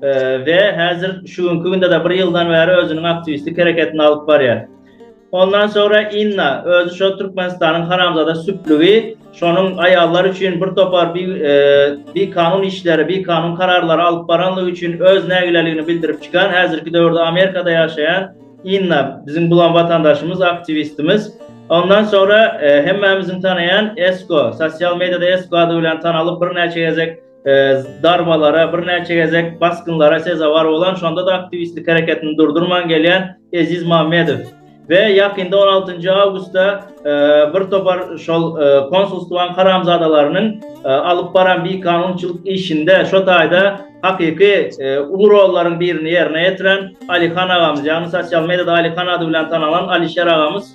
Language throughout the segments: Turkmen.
we häzir şu günki günde-de bir ýyldan bäri özüniň aktiwistlik hereketini alyp barýar. Ondan soňra Inna, özi şo Türkmenistanyň haramzada süplügi, şonuň aýallar üçin bir topar bi, e, bikanun işleri, bikanun kararlary alyp baranlygy üçin öz nägileligini bildirip çykan, häzirki döwürde Amerikada ýaşaýan Inna, biziň bulan watandaşymyz, aktiwistimiz. Ondan soňra e, hemmämiziň tanaýan Esko, sosial mediada Esko ady bilen tanalyp birnäçe gezek zarbalara, birnäçe gezek basgynlara sezewar bolan, şonda-da aktiwistlik hereketini durdurman gelýän Eziz Mammedow we ýakynda on altynjy awgustda bir topar şol konsulstwanyň haramzadalarynyň alyp baran bikanunçylyk işinde şo taýda hakyky uly rollaryň birini ýerine ýetiren Alyhan agamyz, ýagny sosial mediada Alyhan ady bilen tanalan Alişer agamyz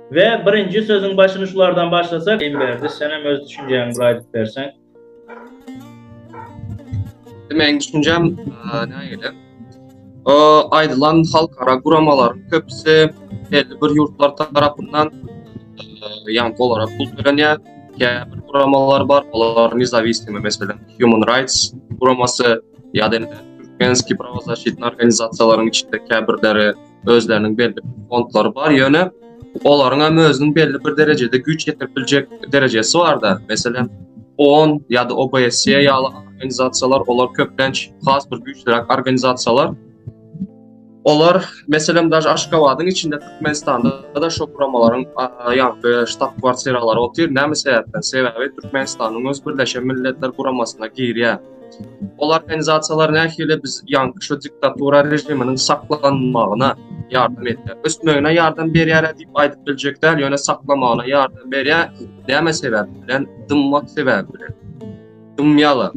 We birinji sözüň başyny şulardan başlasak, in berdi, sen hem öz düşünjäňi bir aýdyp berseň. Meň düşünjäm nägile. O aýdylan halkara guramalaryň köpüsi belli bir ýurtlar tarapyndan ýan dolara pul tölenýär. Käbir guramalar bar, olar nezawisimi, meselem, Human Rights guramasy ýa-da Türkmenski prawozashytny organizasiýalaryň içinde käbirleri özleriniň belli fondlary bar, ýöne olaryň hem özüniň belli bir derejede güýç ýetirip biljek derejesi bar-da. Meselem, OON ýa-da OBSE ýaly organizasiýalar, olar köplenç has bir güýçlüräk organizasiýalar. Olar, meselem, daş Aşgabadyň içinde Türkmenistanda da şu guramalaryň ýa-da ştab-kwartiralary otyr. Näme sebäpden? Sebäbi Türkmenistanyň öz Birleşen Milletler Guramasyna girýär. Ol organizasiýalar nähili biz ýaňky şu diktatura režiminiň saklanmagyna ýardam etdi. Ösmegine ýardam berýär diýip aýdyp biljek däl, ýöne saklamagyna ýardam berýär. Näme sebäp bilen? Dymmak sebäbi bilen. Dymýala.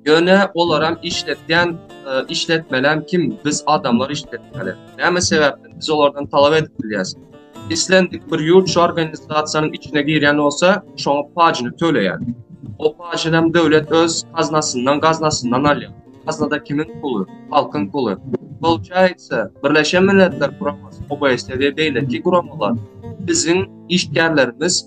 Ýöne olar hem işletýän e, işletmelem kim? Biz adamlar işletmeli. Näme sebäpden biz olardan talap edip bilýäs? Islendik bir ýurt şu organizasiýanyň içine girýän bolsa, şoňa pajyny töleýär. O pajy hem döwlet öz gaznasyndan, gaznasyndan alýar. Gaznada kimiň puly? Halkyň puly. Bolçaýsa, Birleşen Milletler Guramasy, OBSE we beýleki guramalar biziň işgärlerimiz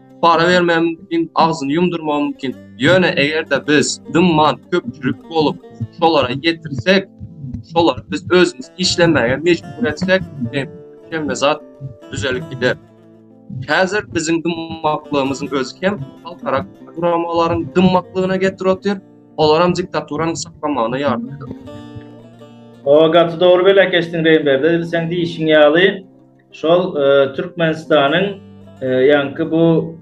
para bermäge mümkin, agzyny ýumdurmaga mümkin. Ýöne eger-de biz dymman köpçülik bolup, şolara ýetirsek, şolara biz özümiz işlemäge mejbur etsek, hemme zat düzelip gider. Häzir biziň dymmaklygymyzyň özi hem halkara guramalaryň dymmaklygyna getir otyr, olar hem diktaturanyň saklamagyna ýardam edip otyr. Ooo gaty dogry belekeşdiň Reýnberde sen diýişiň ýaly. Şol Türkmenistanyň ýaňky bu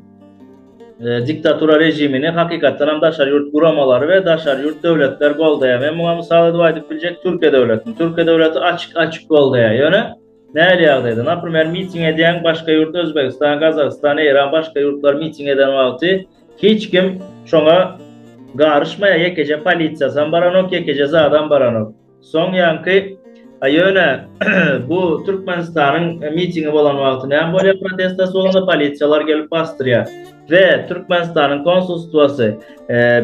diktatura režimini hakykatdan hem daşary ýurt guramalary we daşary ýurt döwletler goldaýar. Men muňa mysal edip aýdyp biljek Türkiýe döwletini. Türkiýe döwleti açyk-açyk goldaýar. Ýöne nähili ýagdaýda? Naprimer, miting edýän başga ýurt Özbegistan, Gazagystan, Eýran başga ýurtlar miting eden wagty hiç kim şoňa garyşmaýar, ýekeje polisiýasam baranok, ýekeje zadam baranok. Soň ýaňky, A ýöne, bu Türkmenistanyň mitingi bolan wagty näme bolýar, protestasy bolanda polisiýalar gelip basdyrýar we Türkmenistanyň konsulstwasy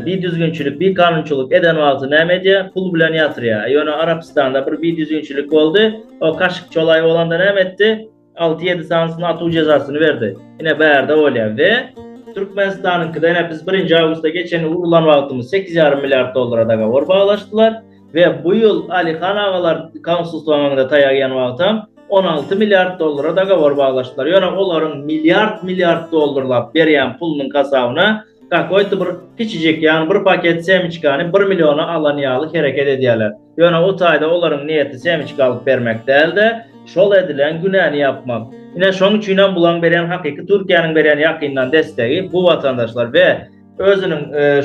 bidüzgünçilik, bikanunçylyk eden wagty näme edýär, pul bilen ýatyrýar. A ýöne Arapystanda bir bidüzgünçilik boldy, o kaşykçolaý bolanda näme etdi? 6-7 sany üstüne atuv jezasyny berdi. Ine bärde bolýar we Türkmenistanyňkyda ine biz 1-nji awgustda geçen urlan wagtymyz 8,5 milliard dollara dagowar baglaşdylar we bu ýyl Alyhan agalar konsulstwa maňda taýak iýen wagtam 16 milliard dollara dagowar baglaşdylar. Ýöne olaryň milliard milliard dollarlap berýän pulunyň hasabyna kakoýto bir kiçijik ýagny bir paket semiçkany bir milliona alan ýaly hereket edýärler. Ýöne o taýda olaryň niýeti semçik alyp bermek däl-de, şol edilen günäni ýapmak. Ine, şoň üçin hem bulaň berýän hakyky Türkiýäniň berýän ýakyndan dessegi bu watandaşlar we özüniň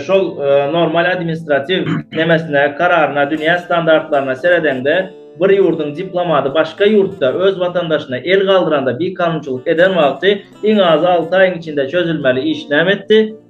şol normal administratiw nemesine, kararyna, dünýä standartlaryna seredeňde, bir ýurduň diplomaty başga ýurtda öz watandaşyna el galdyranda bikanunçylyk eden wagty iň azy alty aýyň içinde çözülmeli iş näme etdi?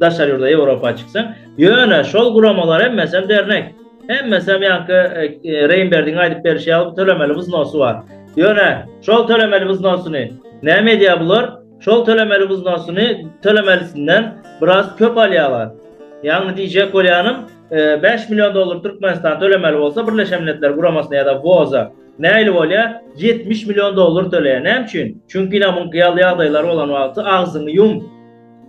daşary ýurda Ýewropa çyksaň, ýöne şol guramalar hemmesi hem dernek. Hemmesi hem ýaňky e, e, Reýnberdiň aýdyp berşi ýaly tölemeli wznosy bar. Ýöne şol tölemeli wznosyny näme edýär bular? Şol tölemeli wznosyny tölemelisinden biraz köp alýarlar. Ýagny diýjek bolýanym, 5 e, million dollar Türkmenistan tölemeli bolsa Birleşen Milletler Guramasyna ýa-da WOZA nähili bolýar? 70 million dollar töleýär. Näme üçin? Çünki ýa muňky ýaly ýagdaýlar bolan wagty agzyňy ýum.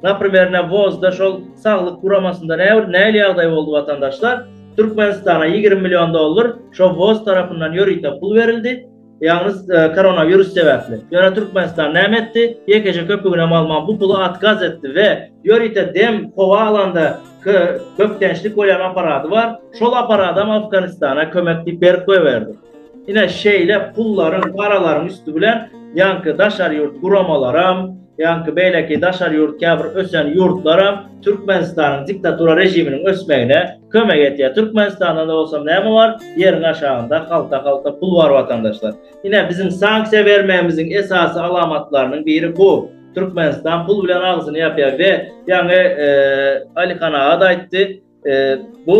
Naprimer ne WOZ-da şol saglyk guramasynda näbir näil ýagdaý boldy watandaşlar, Türkmenistana ýigrimi million dollar şo WOZ tarapyndan ýörite pul berildi, ýalňyz koronawirus sebäpli. Ýöne Türkmenistan näme etdi? Ýekeje köpüginem alman bu puly atkaz etdi we ýörite dem, howa alanda bökdençlik bolýan aparady bar, şol aparadam Afganistana kömek diýip berip goýberdi. Ine şeýle pullaryň, paralaryň üsti bilen ýaňky daşary ýurt guramalaram, Ýaňky beýleki daşary ýurt käbir ösen ýurtlaram Türkmenistanyň diktatura režiminiň ösmegine kömek etýär. Türkmenistanda-da bolsa näme bar? Ýeriň aşagynda halta-halta pul bar watandaşlar. Ine biziň sanksiýa bermegimiziň esasy alamatlarynyň biri bu. Türkmenistan pul bilen agzyny ýapýar we ýaňy Alyhan aga-da aýtdy. Bu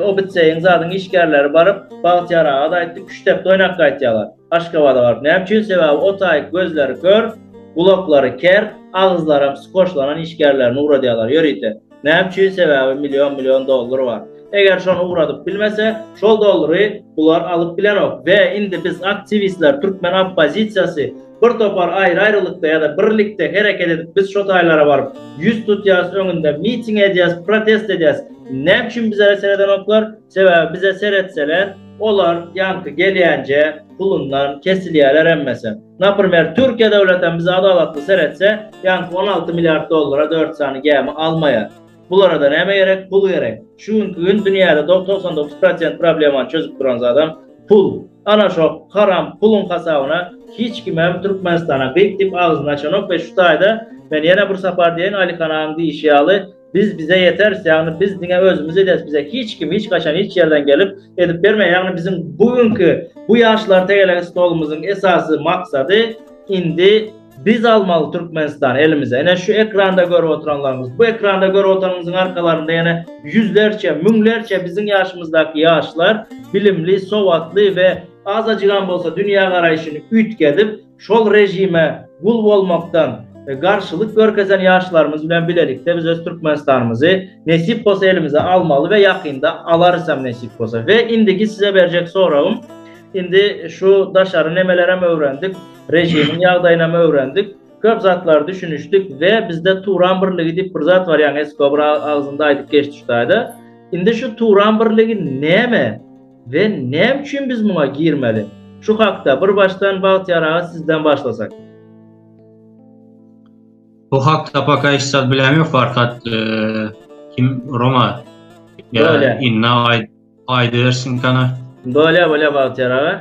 obitseýin zadyň işgärleri baryp, Bagtyýar aga-da aýtdy, küştdepde oýnap gaýtýarlar. Aşgabada baryp näme üçin? Sebäbi o taýyk gözleri kör, gulaklary ker, agyzlaram skoşlanan işgärlerini ugradýarlar ýörite. Näme üçin? Sebäbi million-million dollar bar. Eger şony ugradyp bilmese, şol dollary bular alyp bilenok we indi biz aktiwistler, türkmen oppozisiýasy, Bir topar aýry-aýrylykda ýa-da birlikde hereket edip biz şo taýlara baryp ýüz tutýas öňünde miting edýäs protest edýäs näme üçin bizere seredenoklar sebäbi bize seretseler olar ýaňky gelýänje pulundan kesilýäler hemmesi naprmer türkiýe döwletem bize adalatly seretse ýaňky on alty milliard dollara dört sany gämi almaýar. Bulara-da näme gerek? Pul gerek. Şu günki gün dünýäde do togsan dokuz prosent problemany çözüp duran zadam pul. Ana şo haram puluň hasabyna hiç kimem Türkmenistana gyk diýip agzyny açanok we şu taýda men ýene bir sapar diýeýin Alyhan agaň diýişi ýaly biz bize ýeteris ýagny biz diňe özümiz ederis bize hiç kim hiç haçan hiç ýerden gelip edip bermeýär ýagny biziň bu günki bu ýaşlar tegelegi stolumyzyň esasy maksady indi Biz almaly Türkmenistan elimize. Ene şu ekranda görüp oturanlarymyz. Bu ekranda görüp oturanymyzyň arkalarynda ýene ýüzlerçe, müňlerçe biziň ýaşymyzdaky ýaşlar bilimli, sowatly we azajygam bolsa dünýä garaýşyny üýtgedip, şol režime gul bolmakdan garşylyk görkezen ýaşlarymyz bilen bilelikde biz öz Türkmenistanymyzy nesip bolsa elimize almaly we ýakynda alarysam nesip bolsa. We indiki size berjek soragym, indi şu daşary nemelerem öwrendik, Režimiň ýagdaýynam öwrendik. Köp zatlar düşünişdik we bizde Turan birligi diýip bir zat bar ýaňy Esko bir agzynda aýdyp geçdi şutaýda. Indi şu Turan birligi näme we näme üçin biz muňa girmeli? Şu hakda bir başdan Bagtyýar aga sizden başlasak. Bu hakda paka hiç zat bilämi farkat e, kim Roma? Ýa inna aýdyp Aýdybersin kana. Bolýa bolýa Bagtyýar aga.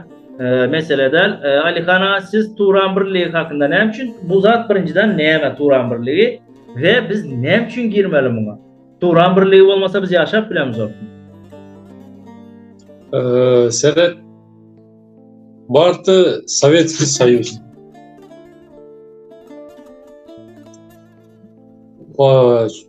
Mesele däl. Alihan aga siz Turan birligi hakynda näme üçin bu zat birinjiden näme Turan birligi we biz näme üçin girmeli muňa? Turan birligi bolmasa biz ýaşap bilemizok. Eee sebep bardy Sowetski Soýuz. Eee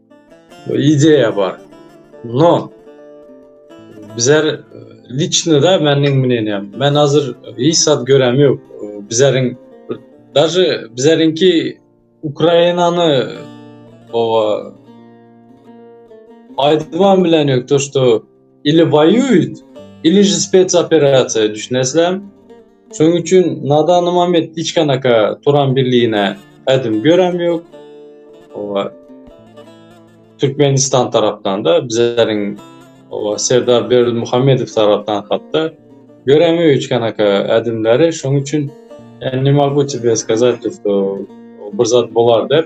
Ideýa bar. No. Bizler e, liçno da meniň menenýär. Men hazir hiç zat görem ýok. Bizleriň daşy bizlerinki Ukrainany o aýdymam bilen ýokdur, Ili waýuýt, ili ji spetsoperasiýa düşünesläm. Şoň üçin nadanym amet diçkanaka turan birligine ädim göräm ýok. Owa. Türkmenistan tarapdan-da bizleriň owa Serdar Berdimuhamedow tarapdan hatda göräm ýok hiçkanaka ädimleri. Şoň üçin ne mogutebesgazat, bir zat bolar dep.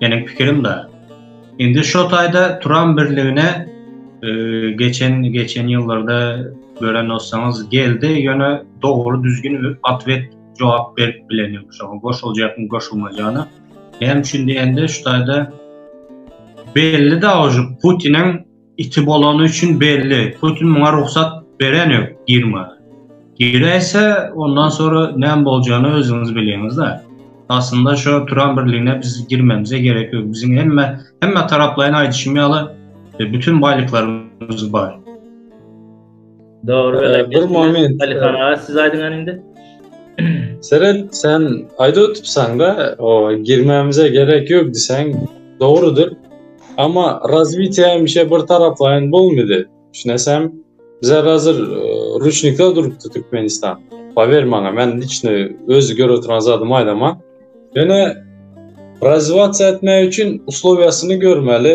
Meniň pikirim da. Indi şo taýda turan birligine e, geçen geçen ýyllarda gören bolsaňyz geldi, ýöne dogry düzgün atwet jogap berip bilen ýok. Şoňa goşuljakmy, goşulmajana. Näme üçin diýende, şu taýda belli da uje Putiniň Iti bolany üçin belli. Putin muňa rugsat beren ýok girmäge. Giräýse, ondan sonra näme boljany özüňiz bilýäňiz-de. Aslynda şo turan birligine biz girmemize gerek ýok. Biziň hemme hemme taraplaýyn aýdyşym ýaly, e, bütün baýlyklarymyz bar. Dogry welin. Bir moment. Alihan aga siz aýdyň indi. Seret sen aýdyp otupsan da, o girmämize gerek ýok diýseň dogrudyr. Amma razwitiýa hemişe bir taraplaýyn bolmady. Düşünesem, bize hazır e, ruçnikda durupdy Türkmenistan. Pawer maňa, men içine öz görüp oturan zadymy aýdaman. Ýöne razwatiýa etmek üçin uslowiýasyny görmeli,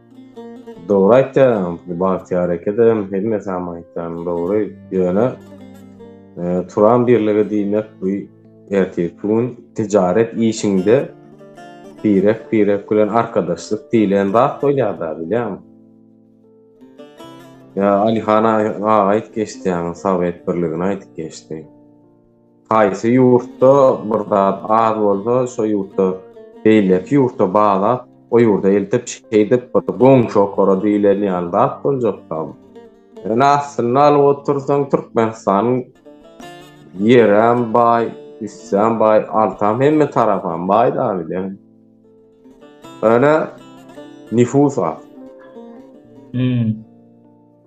Dogry aýtýaň Bagtyýar ekede hemme sam aýtýany dogry ýöne turan birligi diýmek bu ertirki gün tijaret işinde birek birek bilen arkadaşlyk diýlen zat bolýada bilýäňmi ýa Alihan aga aýdyp geçdi ýaňy sowet birligini aýdyp geçdi. Haýsy ýurtda bir zat az bolsa, şo ýurtda beýleki ýurtda bar zat, o ýurda eltip, şeýdip bir goňşy okara diýlen ýaly zat boljakka. Ýöne aslynda alyp otursaň, Türkmenistanyň ýeram baý, üstem baý, altam hemme tarapam baý-da bilen. Ýöne nifus az.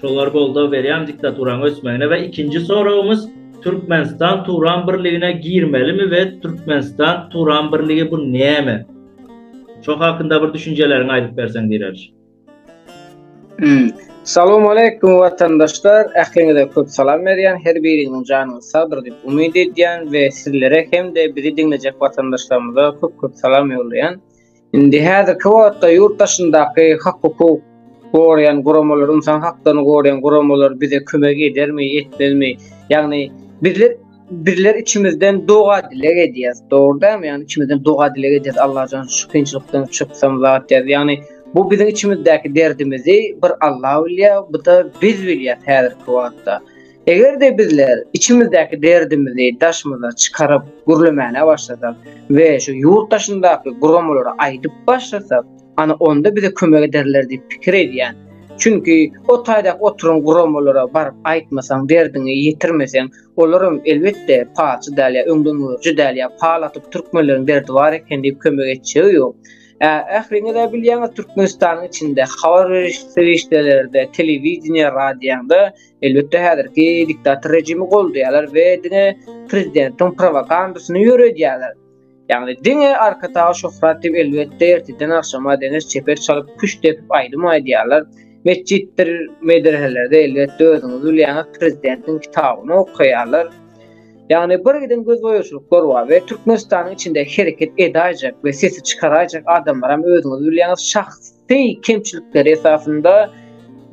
Şolar goldaw berýän diktaturaň ösmegine we ikinji soragymyz Türkmenistan Turan birligine girmelimi we Türkmenistan Turan birligi bu näme? Şo hakynda bir düşünjeleriňi aýdyp berseň diýeris. Hmm. Salam aleyküm watandaşlar. Ähliňize köp salam berýän. Her biriňiziň janyňyz sagdyr diýip umyt edýän we sizlere hem-de bizi diňlejek watandaşlarymyza köp-köp salam ýollaýan. Indi häzirki wagtda ýurt daşyndaky hak-hukuk goraýan guramalar, ynsan haklaryny goraýan guramalar bize kömek edermi, etmezmi? Ýagny bizler bizler içimizden doga dileg edýäs. Dogry dämi? Ýagny içimizden doga dileg edýäs. Allajan şu kynçylykdan çyksam zat ýaz. Ýagny bu biziň içimizdäki derdimizi bir Allah bilýär, bu da biz bilýär häzirki wagtda. Eger-de bizler içimizdäki derdimizi daşymyza çykaryp gürlemäne başlasak we şu ýurt daşyndaky guramalara aýdyp başlasak, ana onda bize kömek ederler diýip pikir edýän. Çünki o taýda oturan guramalara baryp aýtmasaň, derdiňi ýetirmeseň, olaram elbetde palçy däl ýa öňdengörüji däl ýa pal atyp türkmenleriň derdi bar eken diýip kömek etjegi ýok. Ä, ähliňiz-ä bilýäňiz Türkmenistanyň içinde habar beriş serişdelerde, telewideniýe, radioňda Elbetde häzirki diktator rejimi goldaýarlar we diňe prezidentiň prowagandasyny ýöredýärler. Ýagny diňe Arkadagly Şöhrat diýip elbetde ertirden agşama deňiş çeper çalyp küşt depip aýdym aýdýarlar. Metjitdir medreselerde elbetde özüňiz bilýäňiz prezidentiň kitabyny okaýarlar. Ýagny bir giden gözboýaçylyklar bar we Türkmenistanyň içinde hereket edaýjak we sesi çykaraýjak adamlaram özüňiz bilýäňiz şahs Beý kemçilikleri esasynda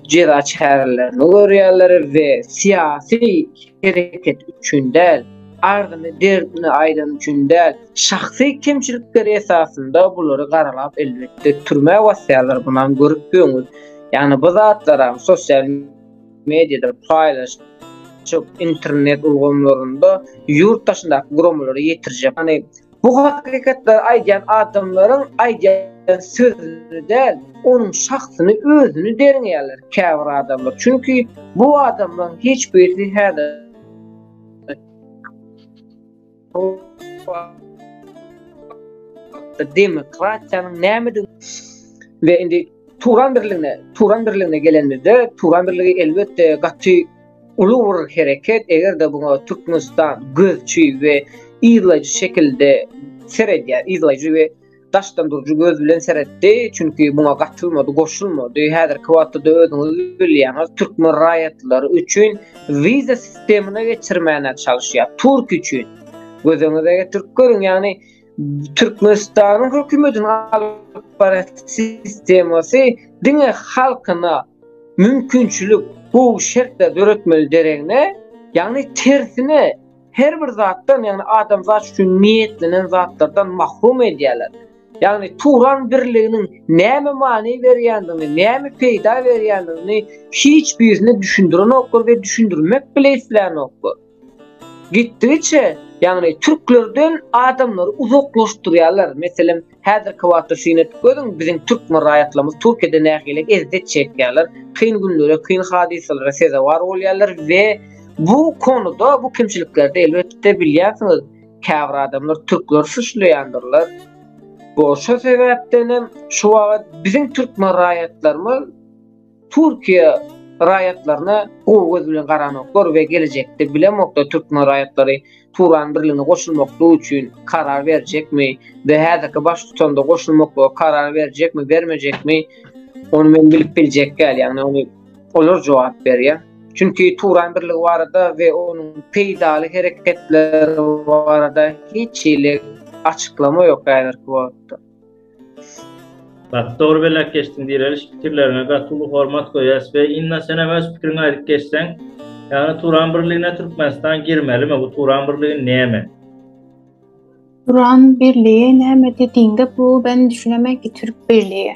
jeza çärelerini görýärler we syýasy hereket üçin däl, arzyny derdini aýdan üçin däl, şahsy kemçilikleri esasynda bulary garalap elbetde türmä basýarlar bunam görüp döňüz. Ýagny bu zatlaram sosial mediýada paýlaş internet ulgamlarynda ýurt daşyndaky guramalara ýetirjek. Ýagny Bu hakykatlary aýdýan adamlaryň aýdýan sözüni däl, onuň şahsyny özüni derňeýärler käbir adamlar. Çünki bu adamlaryň hiç birisi häzir demokratiýanyň nämedigini we indi Turan birligine, Turan birligine gelenimizde, Turan birligi elbetde gaty uly bir hereket, eger-de buňa Türkmenistan gözçi we yzlaýjy şekilde seredýär, yzlaýjy we daşdan duruji göz bilen seretdi, çünki buňa gatylmady, goşulmady. Häzirki wagtda-da özüňiz bilýäňiz, türkmen raýatlary üçin wiza sistemine geçirmäne çalyşýar, türk üçin. Gözüňize getirip görüň, ýagny Türkmenistanyň hökümetiniň alyp baran sistemasy diňe halkyna mümkinçilik, gowy şertler döretmeli deregine, ýagny tersine her bir zatdan, ýagny adamzat üçin niýetlenen zatlardan mahrum edýärler. Ýagny Turan birliginiň näme many berýändigini, näme peýda berýändigini hiç birisine düşündirenoklar we düşündirmek bile isleýänoklar. Gitdigiçe, ýagny türklerden adamlary uzaklaşdyrýarlar. Meselem, häzirki wagtda syn et, göziň biziň türkmen raýatlarymyz Türkiýede nähili ezzet çekýärler, kyn günlere, kyn hadysalara sezewar bolýarlar we bu konuda, bu kemçiliklerde elbetde bilýänsiňiz, käbir adamlar türkleri suçlaýandyrlar. Bu şo sebäpdenem şu wagt biziň türkmen raýatlarymyz Türkiýe raýatlaryna gowy göz bilen garanoklar we gelejekde bilemoklar türkmen raýatlary Turan birligine goşulmaklygy üçin karar berjekmi we häzirki baştutanda goşulmaklyga karar berjekmi bermejekmi ony men bilip biljek däl ýagny ony olar jogap berýär. Çünki Turan birligi barada we onuň peýdaly hereketleri barada hiç hili açyklama ýok häzirki wagtda. Gaty dogry belläp geçdiň direliş pikirleriňe gaty uly hormat goýýas we Inna senem öz pikiriňi aýdyp geçseň ýagny Turan birligine Türkmenistan girmelimi bu Turan birligi näme? Turan birligi näme dediňde bu ben düşünemen ki Türk birligi.